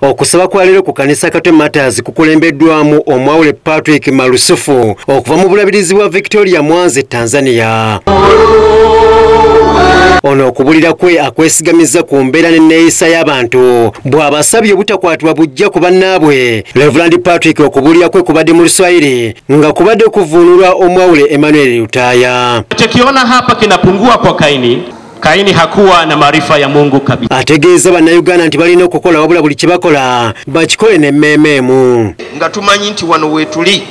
okusaba kwa leero ku kanisa kate matters kukulembeddwamu omwawule patrick malusufu okuva mu bulabirizi bwa victoria mwanzi tanzania ono okubulira kwe akwesigamizza ku mbeera n'enneeyisa y'abantu bw'abasabye obutakwatibwa bujja ku bannaabwe reverand patrick okubulira kwe kubadde mu luswayiri nga kubadde kuvuunulwa omwawule emmanuel lutaaya Kaini hakuwa na maarifa ya Mungu kabisa. Ategeeza bannayuganda nti balina okukola wabula buli kyebakola bakikole ne mmeeme emu. Nga tumanyi nti wano weetuli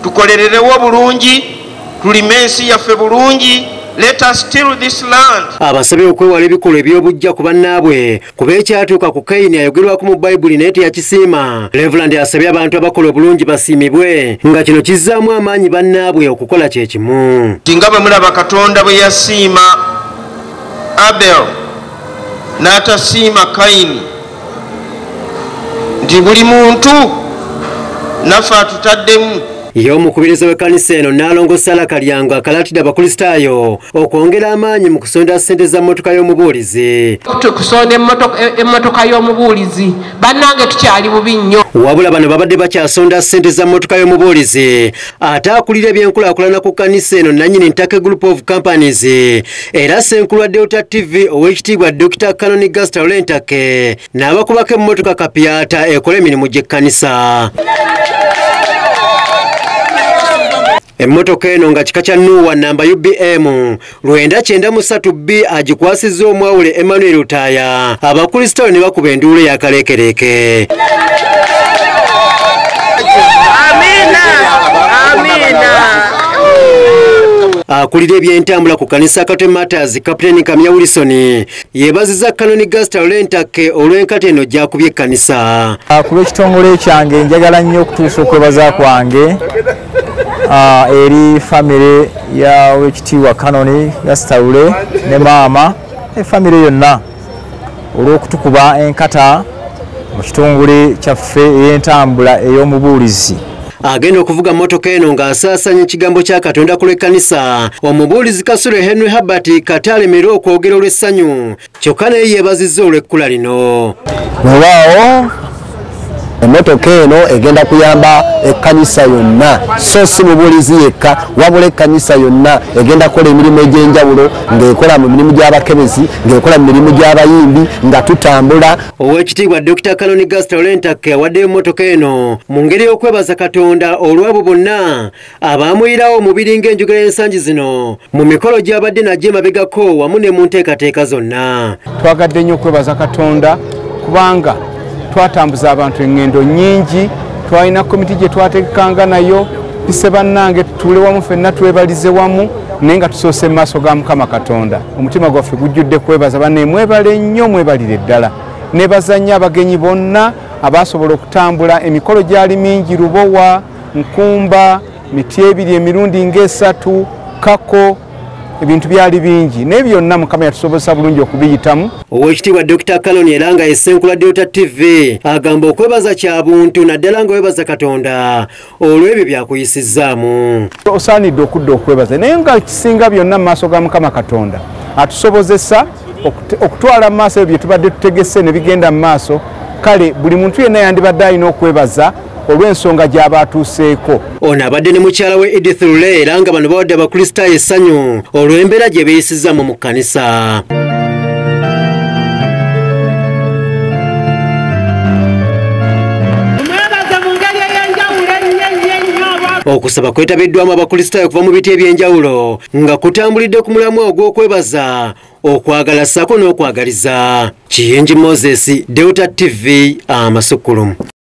tukolererewo bulungi tulime ensi yaffe bulungi Let us steal this land. Abasabye okwewala ebikolwa eby'obuggya ku bannaabwe kuba ekyatuuka ku kayini ayogerwako mu bayibuli naye teyakisiima levulandi asabye abantu abakola obulungi basiimibwe nga kino kizzaamu amaanyi bannaabwe okukola kye kimu tinga bwe mulaba katonda bwe yasiima abel n'atasiima kayini nti buli muntu naffe atutaddemu Ye omukubiriza w'ekkanisa eno Nnaalongo Sala Kalyango akalaatidde abakulisitaayo okwongera amaanyi mu kusondera ssente za mmotoka y'omubuulizi. Tukusonda emmotoka e y'omubuulizi bannange tukyali bubi nnyo. Wabula bano babadde bakyasonda ssente za mmotoka y'omubuulizi ate akulira ebyenkulaakulana ku kkanisa eno nannyini Ntake Group of Companies era Ssenkulu wa Delta TV ow'ekitiibwa Dokita Canon Gastalentake n'abakubako emmotoka kapyata ekola emirimu gy'ekkanisa emmotoka eno nga kika kya nuuwa namba ubm lwenda kyenda mu satu b agikwasizza omwawule emmanuel utaaya abakulisitaayo ne bakuba enduulu eyakaleekereeke akulira ebyentambula ku kanisa kate matters kapiteni kamya wilsoni yebaziza kanoni gasta olwentakke olw'enkata eno gyakubye ekkanisa ah, ku lw'ekitongole kyange njagala nnyo okutuusa okwebaza kwange ah, eri famire ya wekitiibwa kanoni gasta lule ne maama efamire yonna olw'okutukuba enkata mu kitongole kyaffe ey'entambula ey'omubuulizi agenda okuvuga mmotoka eno ng'asaasaanya ekigambo kya katonda ku lw'ekkanisa omubuulizi kasule henry herbert kati alemerera okwogera olw'essanyu kyokka naye yeebazizza olw'ekkula lino wewaawo emmotoka eno egenda kuyamba ekkanisa yonna so si mubuulizi yekka wabula ekkanisa yonna egenda kukola emirimu egy'enjawulo ng'ekola mu mirimu gy'abakebezi ng'ekola mu mirimu gy'abayimbi nga tutambula Owekitiibwa Dr. Kaloni Gasta Olentakke yawaddeyo mmotoka eno mu ngeri y'okwebaza Katonda olw'abo bonna abaamuyirawo omubiri ng'enjogera y'ensangi zino mu mikolo gy'abadde nagyo emabegako wamu ne mu nteekateeka zonna. Twagadde nnyo okwebaza Katonda kubanga twatambuza abantu eŋŋendo nnyingi, twalina komiti gye twategekanga nayo tuse bannange tutuule wamu fenna twebalize wamu naye nga tusoose mu maaso ga Mukama Katonda. omutima gwaffe gujjudde kwebaza bane mwebale nnyo mwebalire ddala nebazanya abagenyi bonna abaasobola okutambula emikolo gyali mingi lubowa nkumba miti ebiri emirundi ngaesatu kako ebintu byali bingi naye byonna mukama yatusobozesa bulungi okubiyitamu owekitiibwa dr kaloni era nga esenkula delta tv agamba okwebaza kya buntu naddala nga webaza katonda olw'ebyo byakuyisizzaamu osaanidde okudda okwebaza naye nga kisinga byonna mu maaso ga mukama katonda atusobozesa okutwala mu maaso ebyo bye tubadde tutegese ne bigenda mu maaso kale buli muntu yenna yandibadde alina okwebaza olw'ensonga gy'aba atuuseeko ono abadde ne mukyala we edith lule era nga bano bawadde abakristaayo essanyu olw'embeera gye beeyisizzamu mu kkanisa okusaba kwetabiddwamu abakristaayo okuva mu biti eby'enjawulo nga kutambulidde ku mulamwa ogw'okwebaza okwagala ssaako n'okwagaliza kiyingi moses delta tv amasukulumu